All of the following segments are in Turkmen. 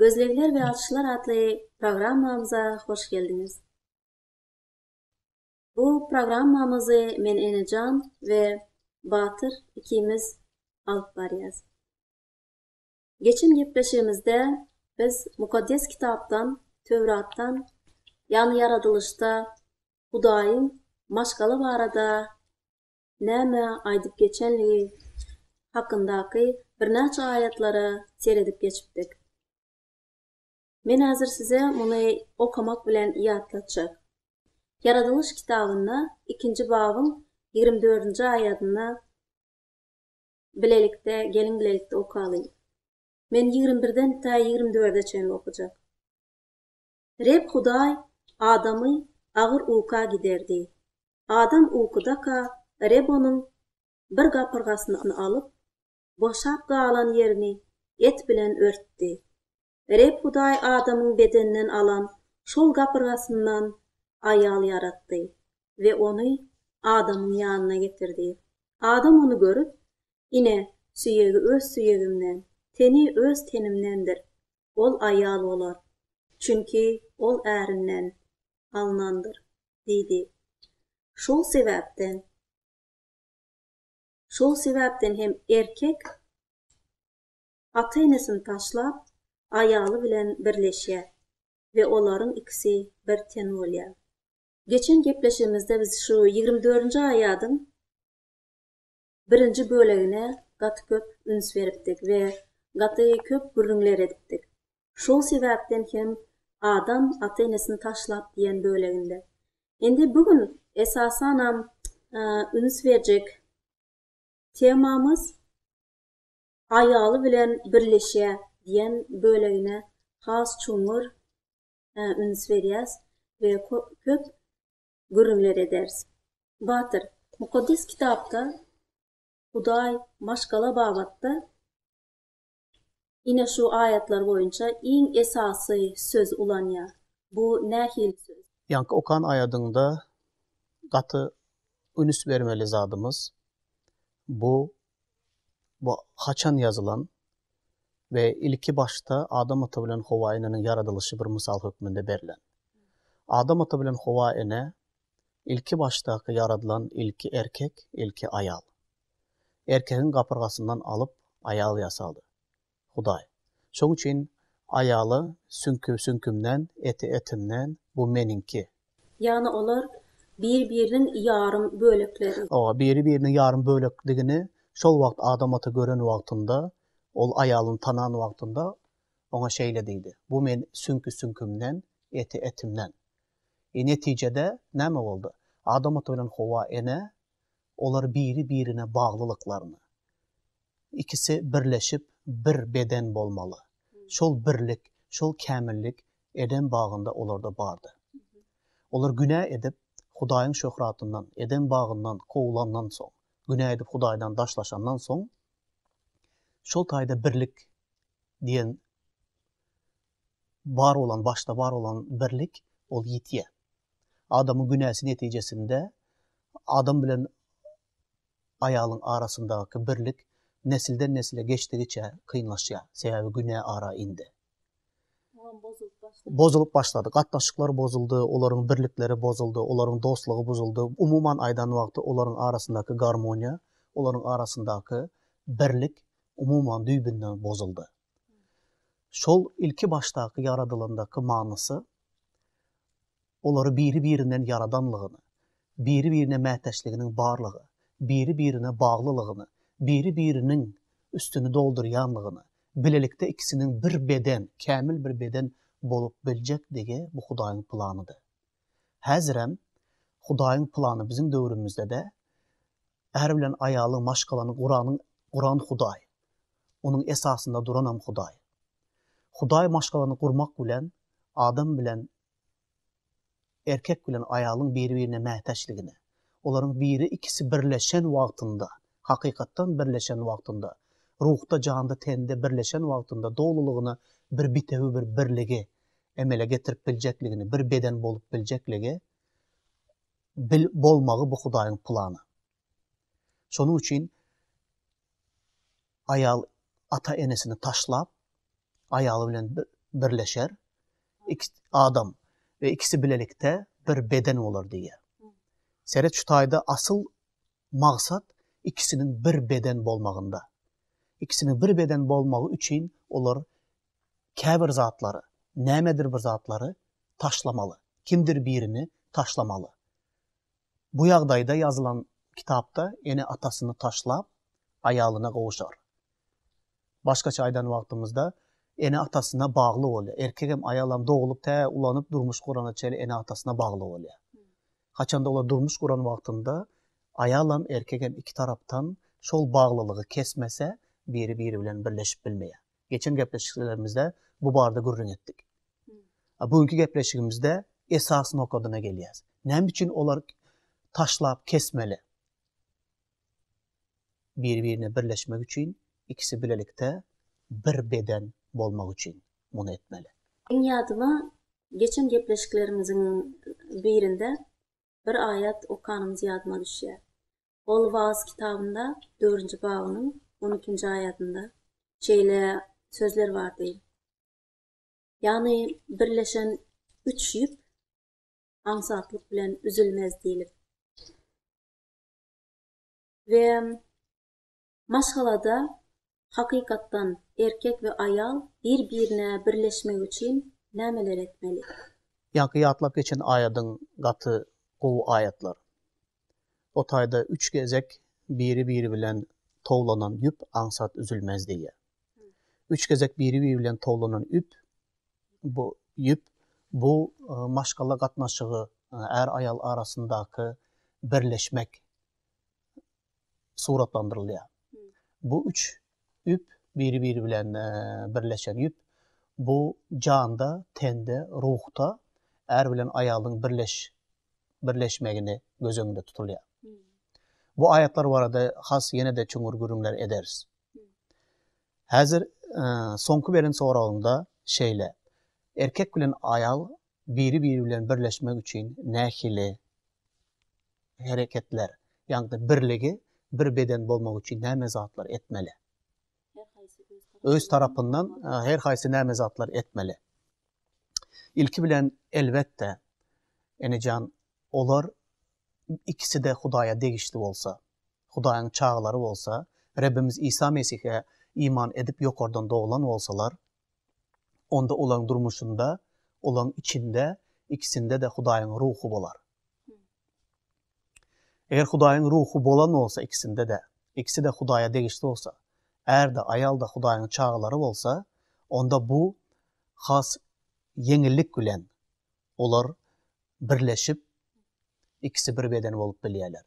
Gözlegler we açyşlar atly programmamyza hoş geldiňiz. Bu programmamyzy men Enejan we Batyr ikimiz alyp barýas. Geçen gepleşigimizde biz Mukaddes Kitapdan, Töwratdan, ýagny ýaradylyşda Hudaýyň maşgala barada näme aýdyp geçenligi hakyndaky birnäçe aýatlara seredip geçipdik. Men häzir size muny okamak bilen ýatlatjak. Ýaradylyş kitabynda ikinji babyň ýigrimi dördünji aýadynda bilelikde geliň bilelikde okalyň. Men ýigrimi birden tä ýigrimi dörde çenli okajak. Reb Hudaý Adamy agyr uka giderdi. Adam ukudaka Reb onuň bir gapyrgasyny alyp, boşap galan ýerini et bilen örtdi. Reb Hudaý Adamyň bedeninden alan şol gapyrgasyndan aýal ýaratdy we ony Adamyň ýanyna getirdi. Adam ony görüp, Ine, süýegi öz süýegimden, teni öz tenimdendir. ol aýal bolar, çünki ol ärinden alnandyr diýdi. Şol sebäpden Şol sebäpden hem erkek ata-enesini taşlap, aýaly bilen birleşýär we olaryň ikisi bir ten bolýar. Geçen gepleşigimizde biz şu ýigrimi dördünji aýadyň birinji bölegine gaty köp üns beripdik we gaty köp gürrüňler edipdik. Şol sebäpden hem Adam ata-enesini taşlap diýen böleginde. Indi bu gün esasanam üns berjek temamyz Aýaly bilen birleşýär diýen bölegine has çuňňur üns berýäs we köp gürrüňler ederis. Batyr, Mukaddes Kitapda Hudaý maşgala babatda ine şu aýatlar boýunça iň esasy söz ulanýar. Bu nähili söz? Ýaňky okan aýadyňda gaty ünüs bermeli zadymyz, bu Bu haçan ýazylan we ilki başda Adam ata bilen Howa eneniň ýaradylyşy bir mysal hökmünde berlen. Adam ata bilen Howa ene ilki başdaky ýaradylan ilki erkek, ilki aýal. Erkegiň gapyrgasyndan alyp, aýal ýasady. Hudaý. Şoň üçin aýala Süňki süňkümden, eti etimden, bu meniňki. Ýagny olar bir-biriniň ýarym bölekleri. Hawa, biri-biriniň ýarym bölekdigini şol wagt Adam ata gören wagtynda, ol aýalyny tanan wagtynda oňa şeýle diýdi, Bu men süňki süňkümden, eti etimden. Netijede näme boldy? Adam ata bilen Howa ene Olar biri-birine baglylyklaryny, ikisi birleşip bir beden bolmaly. Şol birlik, şol kämillik Edem bagynda olarda bardy. Olar günä edip, Hudaýyň şöhratyndan, Edem bagyndan kowulandan soň, günä edip Hudaýdan daşlaşandan soň, şol taýda birlik diýen bar bolan, başda bar bolan birlik, ol ýitýär. Adamyň günäsi netijesinde adam bilen aýalyň arasyndaky birlik nesilden-nesle geçdigiçe kynlaşýar. Sebäbi günä ara indi. Olam bozulyp başlady. Bozulyp başlady. Gatnaşyklar bozuldy, olaryň birlikleri bozuldy, olaryň dostlugy buzuldy. Umuman aýdan wagty olaryň arasyndaky garmoniýa, olaryň arasyndaky birlik umuman düýbünden bozuldy. Şol ilki başdaky ýaradylandaky manysy, olary biri-birinden ýaradanlygyny, biri-birine mätäçliginiň barlygy, biri-birine baglylygyny, biri-biriniň üstüni doldurýanlygyny, bilelikde ikisiniň bir beden, kämil bir beden bolup biljekdigi bu Hudaýyň planydy. Häzirem Hudaýyň plany biziň döwrümizde-de är bilen aýalyň maşgalany guranyň guran Hudaý, onuň esasynda duranam Hudaý. Hudaý maşgalany gurmak bilen adam bilen erkek bilen aýalyň biri-birine mätäçligini, olaryň biri ikisi birleşen wagtynda, hakykatdan birleşen wagtynda, ruhda, janda, tende birleşen wagtynda dolulygyna bir bitewi bir birligi emele getirip biljekligini, bir beden bolup biljekligi bil bolmagy bu Hudaýyň plany. Şonuň üçin aýal ata-enesini taşlap, aýaly bilen birleşer. Iki adam we ikisi bilelikde bir beden bolar diýýär. Seret şu taýda asyl maksat ikisiniň bir beden bolmagynda. İkisiniň bir beden bolmagy üçin olar käbir zatlary, nämedir bir zatlary taşlamaly, kimdir birini taşlamaly. Bu ýagdaýda ýazylan kitapda ene atasyny taşlap, aýalyna gowuşar. Başgaça aýdan wagtymyzda, ene atasyna bagly bolýar. Erkegem, aýalam doglup tä ulanyp durmuş gurana çenli ene atasyna bagly bolýar. Haçanda olar durmuş guran wagtynda aýalam, erkegem iki tarapdan şol baglylygy kesmese, biri biri bilen birleşip bilmeýär. Geçen gepleşiklerimizde bu barada gürrüň etdik. Bu günki gepleşigimizde esas nokadyna gelýäs. Näme üçin olar taşlap kesmeli? Bir-birine birleşmek üçin, ikisi bilelikde bir beden bolmak üçin muny etmeli. Iň ýadyma geçen gepleşiklerimiziň birinde bir aýat okanymyz ýadyma düşýär. Ol Wagyz kitabynda dördünji babynyň on ikinji aýatynda şeýle sözler bardy, Ýagny birleşen üç ýüp aňsatlyk bilen üzülmez diýlip. We Maşgalada, hakykatdan, erkek we aýal bir-birine birleşmek üçin nämeler etmeli? Ýaňky ýatlap geçen aýadyň gaty gowy aýatlar. O taýda üç gezek biri-biri bilen towlanan ýüp aňsat üzülmez diýýär. Üç gezek biri-biri bilen towlanan üp bu ýüp bu maşgala gatnaşygy, är-aýal arasyndaky birleşmek suratlandyrylýar. Bu üç üp biri-biri bilen birleşen üp bu janda, tende, ruhda är bilen aýalyň birleş birleşmegini göz öňünde tutulýar. Bu aýatlar barada has ýene-de çuňňur gürrüňler ederis. Häzir soňky beren soragyňda şeýle. Erkek bilen aýal biri-biri bilen birleşmek üçin nähili hereketler, ýagny birligi, bir beden bolmak üçin näme zatlar etmeli? Öz tarapyndan her haýsy näme zatlar etmeli? Ilki bilen elbetde enejan olar ikisi-de Hudaýa degişli bolsa, Hudaýyň çagalary bolsa, Rebbimiz Isa Mesihe iman edip ýokardan doglan bolsalar, onda olaryň durmuşynda, olaryň içinde, ikisinde-de Hudaýyň Ruhy bolar. Eger Hudaýyň Ruhy bolan bolsa ikisinde-de, ikisi-de Hudaýa degişli bolsa, är-de, aýal-da Hudaýyň çagalary bolsa, onda bu has ýeňillik bilen olar birleşip, ikisi bir beden bolup bilýärler.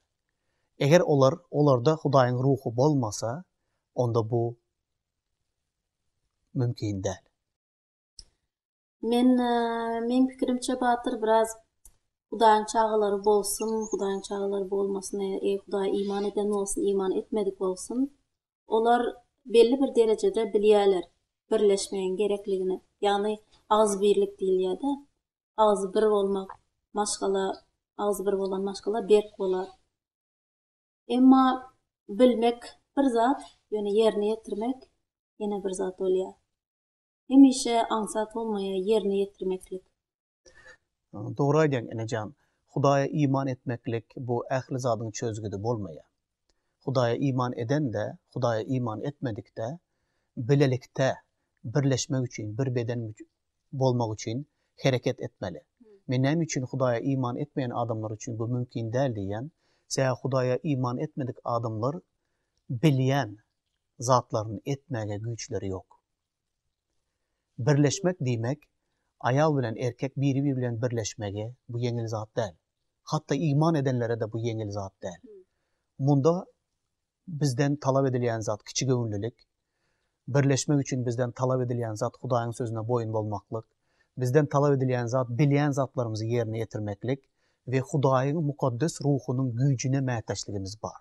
Eger olar, olarda Hudaýyň Ruhy bolmasa, onda bu mümkin däl. Men meň pikirimçe batyr biraz hudaýyň çagalary bolsun hudaýyň çagalary bolmasyn eý hudaýa iman eden bolsun iman etmedik bolsun olar belli bir derejede bilýäler birleşmegiň gerekligini ýagny agzybirlik diýilýäda agzy bir bolmak maşgala agzy bir bolan maşgala berk bolar. Emma bilmek bir zat, ýöne ýerine ýetirmek ýene bir zat bolýar. Hemişe aňsat bolmaýar ýerine ýetirmeklik. Dogry aýdýaň enejan. Hudaýa iman etmeklik bu ähli zadyň çözgüdi bolmaýar. Hudaýa iman eden-de, Hudaýa iman etmedik-de bilelikde birleşmek üçin, bir beden bolmak üçin hereket etmeli. Men näme üçin Hudaýa iman etmeýän adamlar üçin bu mümkin däl diýýän? Sebäbi Hudaýa iman etmedik adamlar bilýän zatlaryny etmäge güýçleri ýok. Birleşmek diýmek, aýal bilen erkek biri-biri bilen birleşmegi bu ýeňil zat däl. Hatda iman edenlere-de bu ýeňil zat däl. Munda Bizden talap edilýän zat kiçigöwünlilik. Birleşmek üçin bizden talap edilýän zat Hudaýyň sözüne boýun bolmaklyk. Bizden talap edilýän zat bilýän zatlarymyzy ýerine ýetirmeklik we Hudaýyň mukaddes ruhunyň güýjüne mätäçligimiz bar.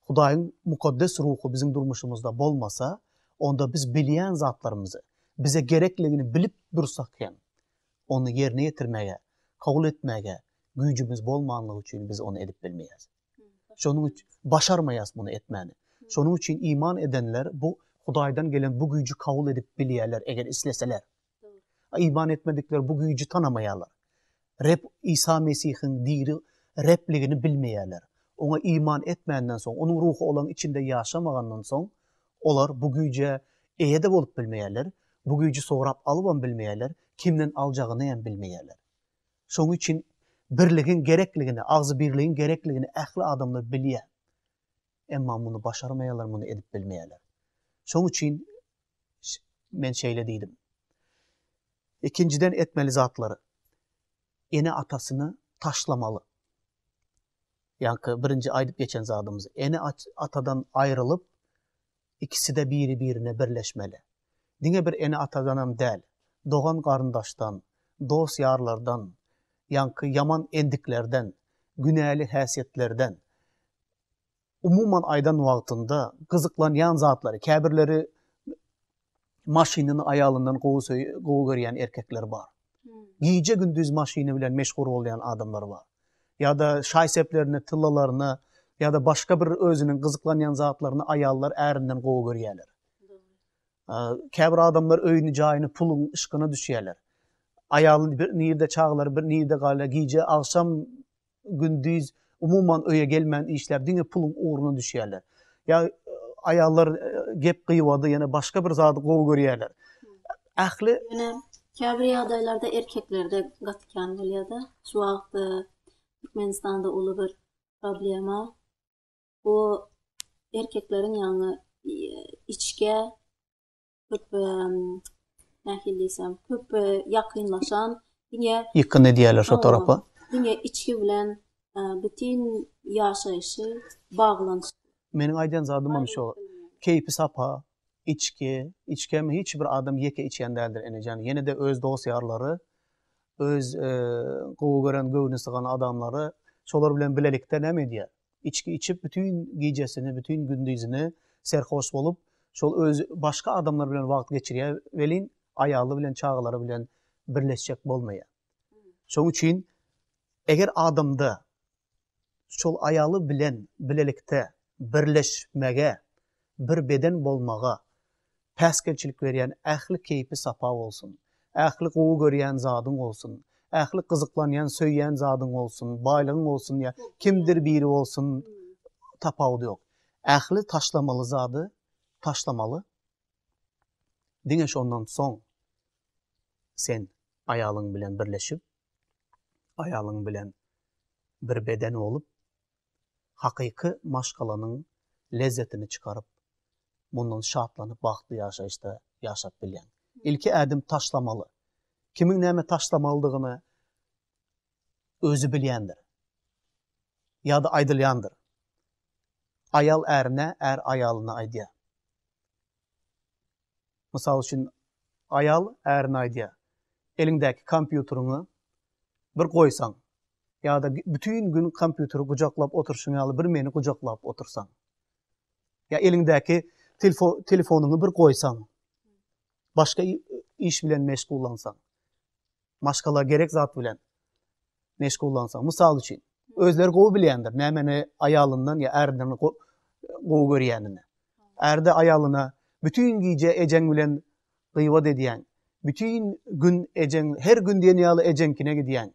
Hudaýyň mukaddes ruhy biziň durmuşymyzda bolmasa, onda biz bilýän zatlarymyzy, bize gerekligini bilip dursak hem, ony ýerine ýetirmäge, kabul etmäge güýjümiz bolmanlygy üçin biz ony edip bilmeýäris. Şonuň üçin başarmaýas muny etmäni. Şonuň üçin iman edenler bu Hudaýdan gelen bu güýji kabul edip bilýärler eger isleseler. Iman etmedikler bu güýji tanamaýarlar. Reb Isa Mesihiň diri Rebligini bilmeýärler. Oňa iman etmänden soň, onuň ruhy olaň içinde ýaşamagandan soň, olar bu güýje eýe-de bolup bilmeýärler, bu güýji sorap alybam bilmeýärler, kimden aljagyny hem bilmeýärler. Şonuň üçin birligiň gerekligini, agzybirligiň gerekligini ähli adamlar bilýär. Emma muny başarmaýarlar, muny edip bilmeýärler. Şonuň üçin men şeýle diýdim. Ikinjiden etmeli zatlary. Ene-atasyny taşlamaly. Ýaňky birinji aýdyp geçen zadymyz. Ene-atadan aýrylyp, ikiside biri birine birleşmeli. Diňe bir ene atadanam däl, dogan garyndaşdan, dos ýarlardan, ýaňky ýaman endiklerden, günäli häsiýetlerden, umuman aýdan wagtynda gyzyklanýan zatlary, käbirleri maşynyny aýalyndan gowy söýe gowy görýän erkekler bar. Gije gündiz maşyny bilen meşhur bolýan adamlar bar. Ýa-da şaý-seplerini, tyllalaryny ýa-da başga bir özüniň gyzyklanýan zatlaryny aýallar ärinden gowy görýärler. Käbir adamlar öýüni, jaýyny, puluň yşkyna düşýärler. Aýaly bir nirde çagalar bir nirde galýar, gije agşam gündiz umuman öýe gelmän işläp diňe puluň ugruna düşýärler. Ýa aýallar gep gybady ýene başga bir zady gowy görýärler. Ähli ýene käbir ýagdaýlarda erkeklerde gaty kän bolýada. Şu wagt Türkmenistanda uly bir problema. Bu erkekleriň ýaňy içgä köp nähili diýsem, köp ýakynlaşan, diňe ýykgyn edýärler şo tarapa. Diňe içgi bilen bütin ýaşaýşy baglanyşyk. Meniň aýdýan zadym hem şo. Keýpi sapa, içgi, içgi hem hiç bir adam ýeke içýän däldir Enejan. Ýene-de öz dost-ýarlary, öz gowy gören, göwni sygan adamlary şolar bilen bilelikde näme edýär? içki içip bütin gijesini, bütin gündizini serhoş bolup, şol özi başga adamlar bilen wagt geçirýär welin, aýaly bilen çagalary bilen birleşjek bolmaýar. Şoň üçin eger adamda şol aýaly bilen bilelikde birleşmege bir beden bolmaga päsgelçilik berýän ähli keýpi sapa bolsun, ähli gowy görýän zadyň bolsun, ähli gyzyklanýan söýýän zadyň bolsun, baýlygyň bolsun ýa kimdir biri bolsun tapawudy ýok. Ähli taşlamaly zady taşlamaly. Diňe şondan soň sen aýalyň bilen birleşip, aýalyň bilen bir beden bolup, hakyky maşgalanyň lezzetini çykaryp, mundan şatlanyp bagtly ýaşaýyşda ýaşap bilýäň. Ilki ädim taşlamaly. Kimiň näme taşlamalydygyny özi bilýändir. Ýa-da aýdylýandyr. Aýal ärine, är aýalyna aýdýar. Mysal üçin, aýal ärine aýdýar, Eliňdäki kompýuteriňi bir goýsaň ýa-da bütin gün kompýuteri gujaklap oturyşyň ýaly bir meni gujaklap otursaň. Ýa eliňdäki telefonyňy bir goýsaň, başga iş bilen meşgullansaň, maşgala gerek zat bilen. meşgullansaň, mysal üçin, özleri gowy bilýändir, nämeni aýalyndan ýa ärden gowy görýänini. Ärde aýalyna bütin gije ejeň bilen gybat edýän, bütin gün ejeň, her gün diýen ýaly ejeňkine gidýän,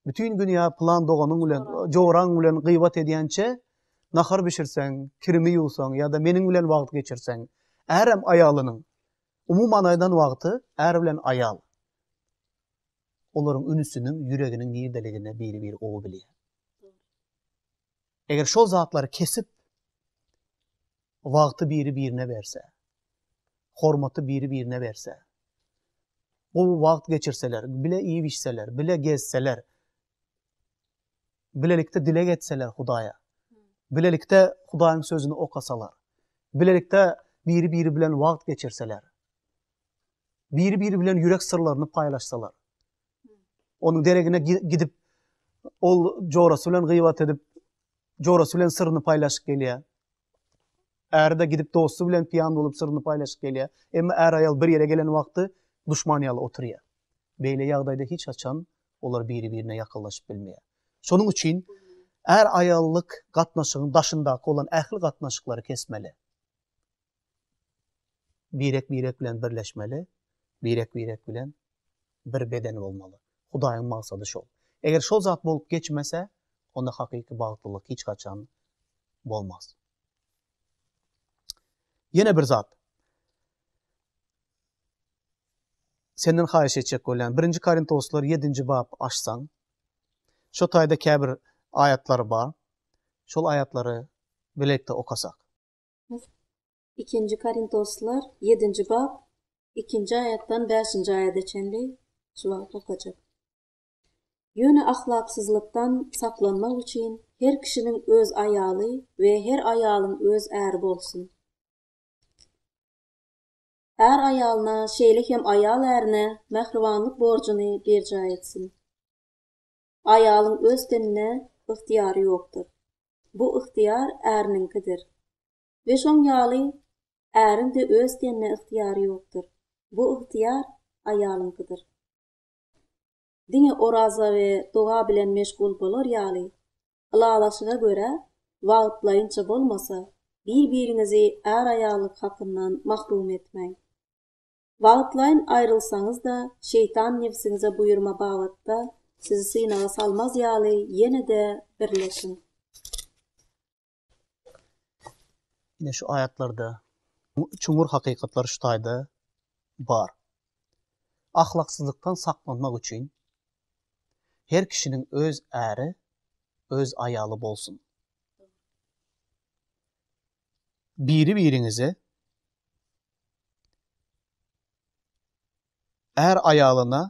bütin gün ýa plan doganyň bilen, joraň bilen gybat edýänçä, nahar bişirseň, kirimi ýuwsaň ýa-da meniň bilen wagt geçirseň, ärem aýalynyň, umuman aýdan wagty, är bilen aýal. olaryň ünüsiniň ýüreginiň nirdeligini biri-biri gowy bilýär. Eger şol zatlary kesip, wagty biri-birine berse, hormaty biri-birine berse, gowy wagt geçirseler, bile iýip-içseler, bile gezseler, bilelikde dileg etseler Hudaýa, bilelikde Hudaýyň sözüni okasalar, bilelikde biri-biri bilen wagt geçirseler, biri-biri bilen ýürek syrlaryny paýlaşsalar. Onuň deregine gidip, ol jorasy bilen gyýbat edip, jorasy bilen syryny paýlaşyp gelýär. Äri-de gidip dosty bilen piýan bolup syryny paýlaşyp gelýär. Emma är-aýal bir ýere gelen wagty duşman ýaly oturýar. Beýle ýagdaýda hiç haçan olar biri-birine ýakynlaşyp bilmeýär. Şonuň üçin är-aýallyk gatnaşygyň daşyndaky bolan ähli gatnaşyklary kesmeli. birek-birek bilen birleşmeli, birek-birek bilen bir beden bolmaly. Hudaýyň maksady şol. Eger şol zat bolup geçmese, onda hakyky bagtlylyk hiç haçan bolmaz. Ýene bir zat. Senden haýyş etjek bolýan, 1-nji Korintoslar 7-nji bap açsaň, şo taýda käbir aýatlar bar. Şol aýatlary bilelikde okasak. Ikinji Korintoslar ýedinji bap ikinji aýatdan bäşinji aýada çenli şu wagt okajak. Ýöne ahlaksyzlykdan saklanmak üçin her kişiniň öz aýaly we her aýalyň öz äri bolsun. Är aýalyna, şeýle hem aýal ärine mähribanlyk borjuny berjaý etsin. Aýalyň öz tenine ygtyýary ýokdur. Bu ygtyýar äriniňkidir. We şoň ýaly äriň-de öz tenine ygtyýary ýokdur. Bu ygtyýar aýalyňkydyr. Diňe oraza we doga bilen meşgul bolar ýaly, ylalaşyga görä, wagtlaýynça bolmasa, bir-biriňizi är-aýallyk hakyndan mahrum etmäň. Wagtlaýyn aýrylsaňyz-da, şeýtan nebsiňize buýurma babatda sizi synaga salmaz ýaly ýene-de birleşiň. Ine şu aýatlarda çuňňur hakykatlar şu taýda bar. Ahlaksyzlykdan saklanmak üçin her kişiniň öz äri, öz aýaly bolsun. biri-biriňize är aýalyna,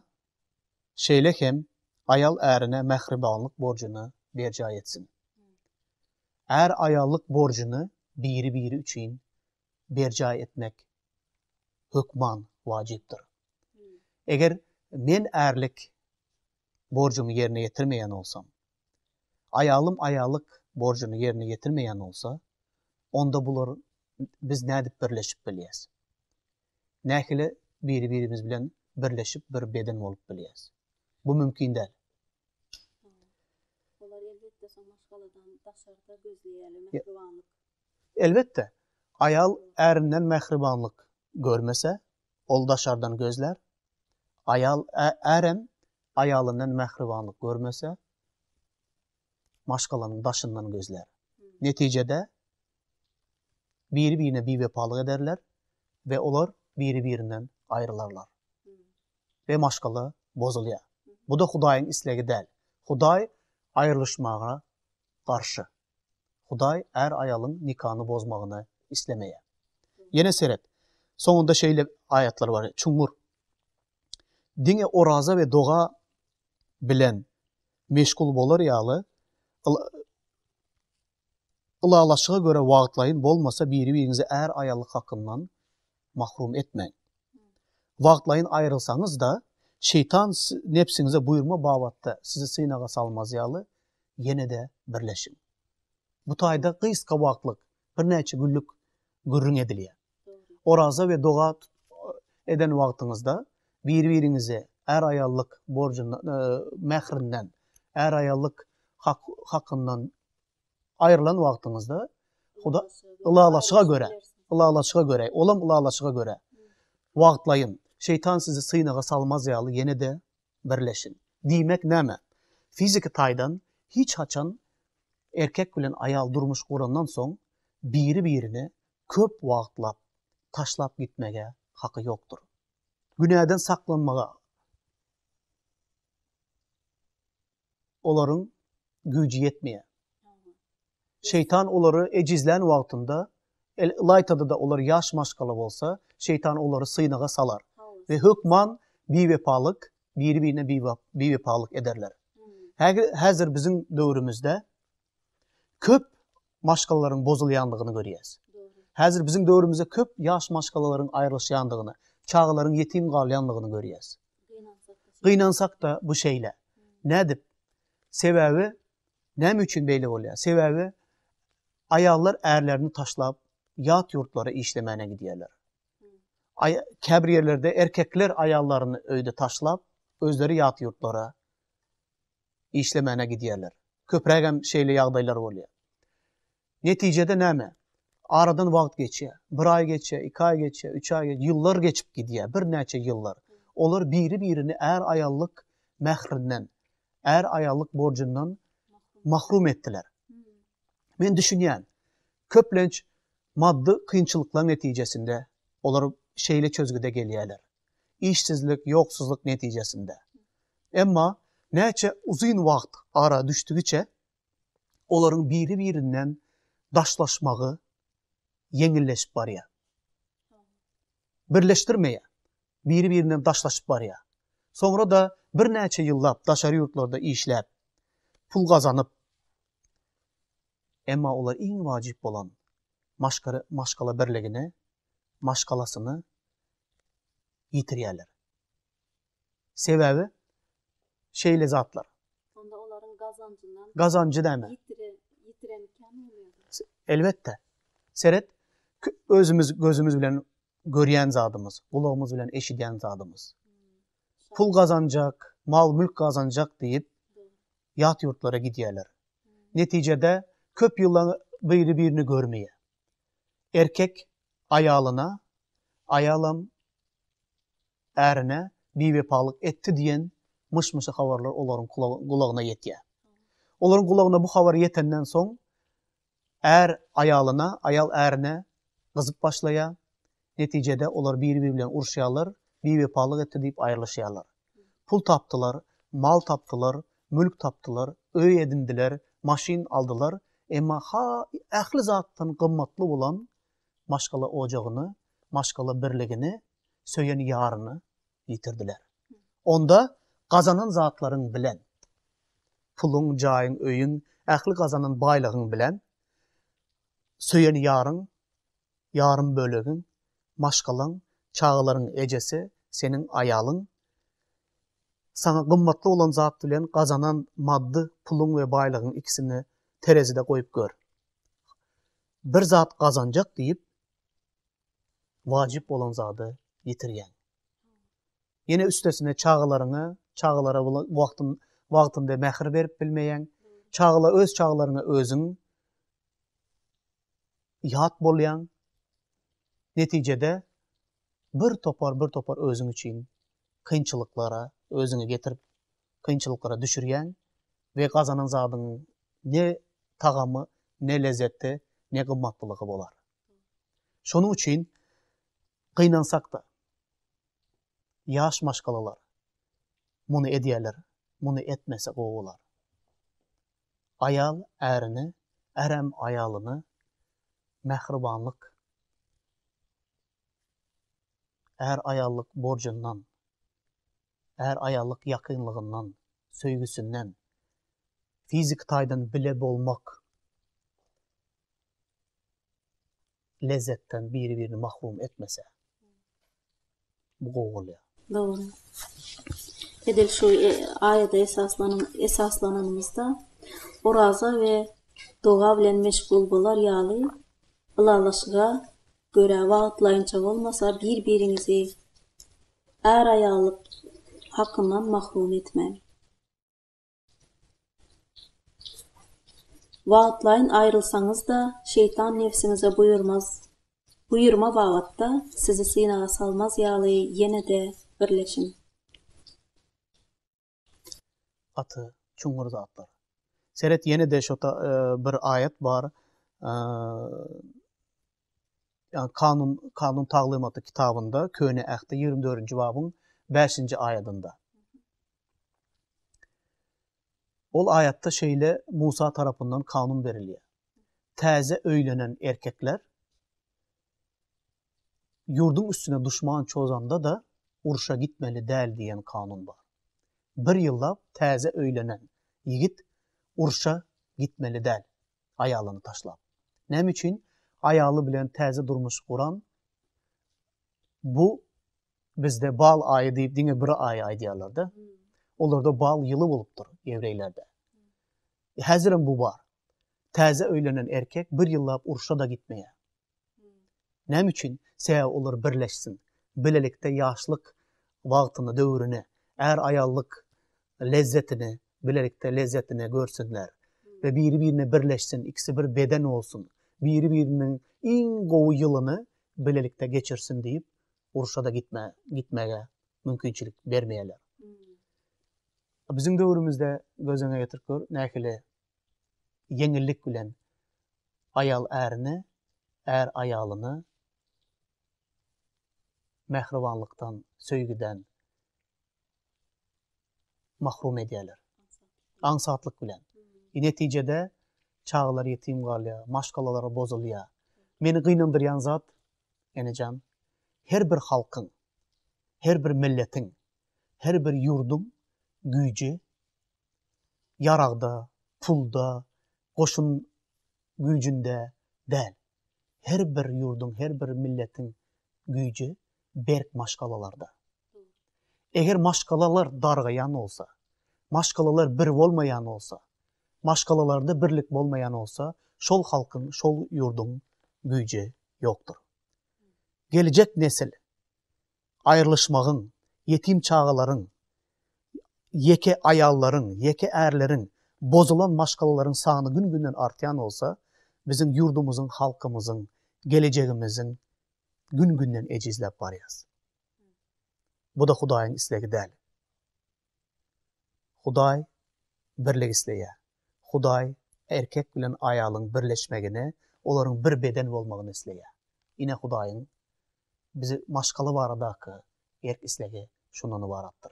şeýle hem aýal ärine mähribanlyk borjuny berjaý etsin. Är aýallyk borjuny biri-biri üçin berjaý etmek hökman wajypdyr. Eger men ärlik borjumy ýerine ýetirmeýän bolsam, Aýalym aýallyk borjuny ýerine ýetirmeýän bolsa, onda bular biz nädip birleşip bilýäs? Nähili biri-birimiz bilen birleşip bir beden bolup bilýäs? Bu mümkin däl. Olar elbetde şo maşgaladan daşarda gözleýärler mähribanlyk. Elbetde. Aýal ärinden mähribanlyk görmese, ol daşardan gözlär. Aýal ärem aýalyndan mähribanlyk görmese, maşgalanyň daşyndan gözlär. Netijede, biri-birine biwepalyk ederler we olar biri-birinden aýrylarlar. We maşgala bozulýar. Bu-da Hudaýyň islegi däl. Hudaý aýrylyşmaga garşy. Hudaý är-aýalyň nikany bozmagyny islemeýär. Ýene seret, soňunda şeýle aýatlar bar, çuňňur. Diňe oraza we doga bilen meşgul bolar ýaly, ylalaşyga görä wagtlaýyn bolmasa biri-biriňizi är-aýallyk hakyndan mahrum etmäň. Wagtlaýyn aýrylsaňyz-da, şeýtan nebsiňize buýurma babatda sizi synaga salmaz ýaly, ýene-de birleşiň. Bu taýda gysga wagtlyk, birnäçe günlük gürrüň edilýär. Oraza we doga eden wagtyňyzda bir-biriňize är-aýallyk borjundan, mährinden, är-aýallyk hakyndan Aýrylan wagtyňyzda Huda ylalaşyga görä, ylalaşyga görä, olam ylalaşyga görä wagtlaýyn. Şeýtan sizi synaga salmaz ýaly ýene-de birleşiň. Diýmek näme? Fiziki taýdan hiç haçan erkek bilen aýal durmuş gurandan soň biri-birini köp wagtlap taşlap gitmege haky ýokdur. Günäden saklanmaga. olaryň güýji ýetmeýär. Şeýtan olary ejizlän wagtynda, ylaýta-da olar ýaş maşgala bolsa, şeýtan olary synaga salar we hökman biwepalyk, biri-birine biwepalyk ederler. Häzir biziň döwrümizde köp maşgalalaryň bozulýandygyny görýäs. Häzir biziň döwrümizde köp ýaş maşgalalaryň aýrylyşýandygyny, çagalaryň ýetim galýandygyny görýäs. Gynansak-da bu şeýle. Nädip? Sebäbi näme üçin beýle bolýar? Sebäbi aýallar ärlerini taşlap ýat ýurtlara işlemäne gidýärler. Käbir ýerlerde erkekler aýallaryny öýde taşlap, özleri ýat ýurtlara işlemäne gidýärler. Köprägem şeýle ýagdaýlar bolýar. Netijede näme? Aradan wagt geçýär. Bir aý geçýär, iki aý geçýär, üç aý geçýär, ýyllar geçip gidýär, birnäçe ýyllar. Olar biri-birini är-aýallyk mährinden, är-aýallyk borjundan mahrum etdiler. Men düşünýän, köplenç maddy kynçylyklaryň netijesinde olar şeýle çözgüde gelýärler. işsizlik, ýoksuzlyk netijesinde. Emma näçe uzyn wagt ara düşdügiçe olaryň biri-birinden daşlaşmagy ýeňilleşip barýar. Birleşdirmeýär. Biri-birinden daşlaşyp barýar. Soňra-da birnäçe ýyllap daşary ýurtlarda işläp, pul gazanyp, emma olar iň wajyp bolan maşgala birligine maşgalasyny ýitirýärler. Sebäbi şeýle zatlar. Onda olaryň gazanjyndan gazanjy näme? Ýitiren, ýitiren kän bolýar. Elbetde. Seret, özümiz gözümiz bilen görýän zadymyz, gulagymyz bilen eşidýän zadymyz. Pul gazanjak, mal-mülk gazanjak diýip ýat ýurtlara gidýärler. Netijede köp ýylla biri-birini görmeýär. Erkek aýalyna, aýalam ärine biwepalyk etdi diýen myş-myşy habarlar olaryň gulagyna ýetýär. Olaryň gulagyna bu habar ýetenden soň, är aýalyna, aýal ärine gyzyp başlaýar, Netijede olar biri-biri bilen uruşýarlar, biwepalyk etdi diýip aýrylyşýarlar. Pul tapdylar, mal tapdylar, mülk tapdylar, öý edindiler, maşyn aldylar, emma ähli zatdan gymmatly bolan maşgala ojagyny, maşgala birligini, söýen ýaryny ýitirdiler. Onda gazanan zatlaryň bilen, puluň, jaýyň, öýüň, ähli gazanan baýlygyň bilen söýen ýaryň ýarym bölegiň, maşgalaň, çagalaryň ejesi, seniň aýalyň. Saňa gymmatly bolan zat bilen gazanan maddy puluň we baýlygyň ikisini terezide goýup gör. Bir zat gazanjak diýip, wajyp bolan zady ýitirýäň. Ýene üstesine çagalaryňa, çagalara wagtyn wagtynda mähir berip bilmeýäň. Çagala öz çagalaryňa özüň ýat bolýaň. Netijede bir topar, bir topar özüň üçin kynçylyklara özüňi getirip, kynçylyklara düşürýäň we gazanan zadyň ne tagamy, ne lezzeti, ne gymmatlylygy bolar. Şonuň üçin gynansak-da, ýaş maşgalalar muny edýärler, muny etmese gowy bolar. Aýal ärini, ärem aýalyny mähribanlyk, är-aýallyk borjundan, är-aýallyk ýakynlygyndan, söýgüsinden, fiziki taýdan bile bolmak lezzetden biri-birini mahrum etmese, bu gowy bolýar. Dogry. Edil şu aýada esaslananymyzda, oraza we doga bilen meşgul bolar ýaly, ylalaşyga görä wagtlaýynça bolmasa, bir-biriňizi är-aýallyk hakyndan mahrum etmäň. Wagtlaýyn aýrylsaňyz-da, şeýtan nebsiňize buýurmaz. Buýurma babatda sizi synaga salmaz ýaly ýene-de birleşiň. Gaty çuňňur zatlar. Seret ýene-de şo bir aýat bar. ýagny Kanun, Kanun taglymaty kitabynda, Köne Ähtde ýigrimi dördünji babyň bäşinji aýadynda. Ol aýatda şeýle Musa tarapyndan kanun berilýär. Täze öýlenen erkekler ýurduň üstüne duşman çozanda-da urşa gitmeli däl diýen kanun bar. Bir ýyllap täze öýlenen ýigit urşa gitmeli däl. aýalyny taşlap. Näme üçin? Aýaly bilen täze durmuş guran bu bizde bal aýy diýip diňe bir aýy aýdýarlar-da. Olarda bal ýyly bolupdyr ýewreýlerde. Häzirem bu bar. Täze öýlenen erkek bir ýyllap urşa-da gitmeýär. Näme üçin? Sebäbi olar birleşsin. Bilelikde ýaşlyk wagtyny, döwrüni, är-aýallyk lezzetini, bilelikde lezzetini görsünler we biri-birine birleşsin, ikisi bir beden bolsun, biri-biriniň iň gowy ýylyny bilelikde geçirsin diýip, urşa-da gitmäge mümkinçilik bermeýärler. Biziň döwrümizde göz öňüne getirip gör, nähili ýeňillik bilen aýal ärine, är aýalyna mähribanlykdan, söýgüden mahrum edýärler. Aňsatlyk bilen. E, netijede çagalar ýetim galýar, maşgalalar bozulýar. Meni gynandyrýan zat, enejan, her bir halkyň, her bir milletiň, her bir ýurduň güýji ýaragda, pulda, goşun güýjünde däl. Her bir ýurduň, her bir milletiň güýji berk maşgalalarda. Eger maşgalalar dargaýan bolsa, maşgalalar bir bolmaýan bolsa, maşgalalarda birlik bolmaýan bolsa, şol halkyň, şol ýurduň güýji ýokdur. Geljek nesil aýrylyşmagyň, ýetim çagalaryň, ýeke aýallaryň, ýeke ärleriň, bozulan maşgalalaryň sany gün-günden artýan bolsa, biziň ýurdumyzyň, halkymyzyň, gelejegimiziň gün-günden ejizläp barýas. Bu-da Hudaýyň islegi däl. Hudaý birlik isleýär. Hudaý erkek bilen aýalyň birleşmegini, olaryň bir beden bolmagyny isleýär. Ine Hudaýyň bizi maşgala baradaky erk islegi şundan ybaratdyr.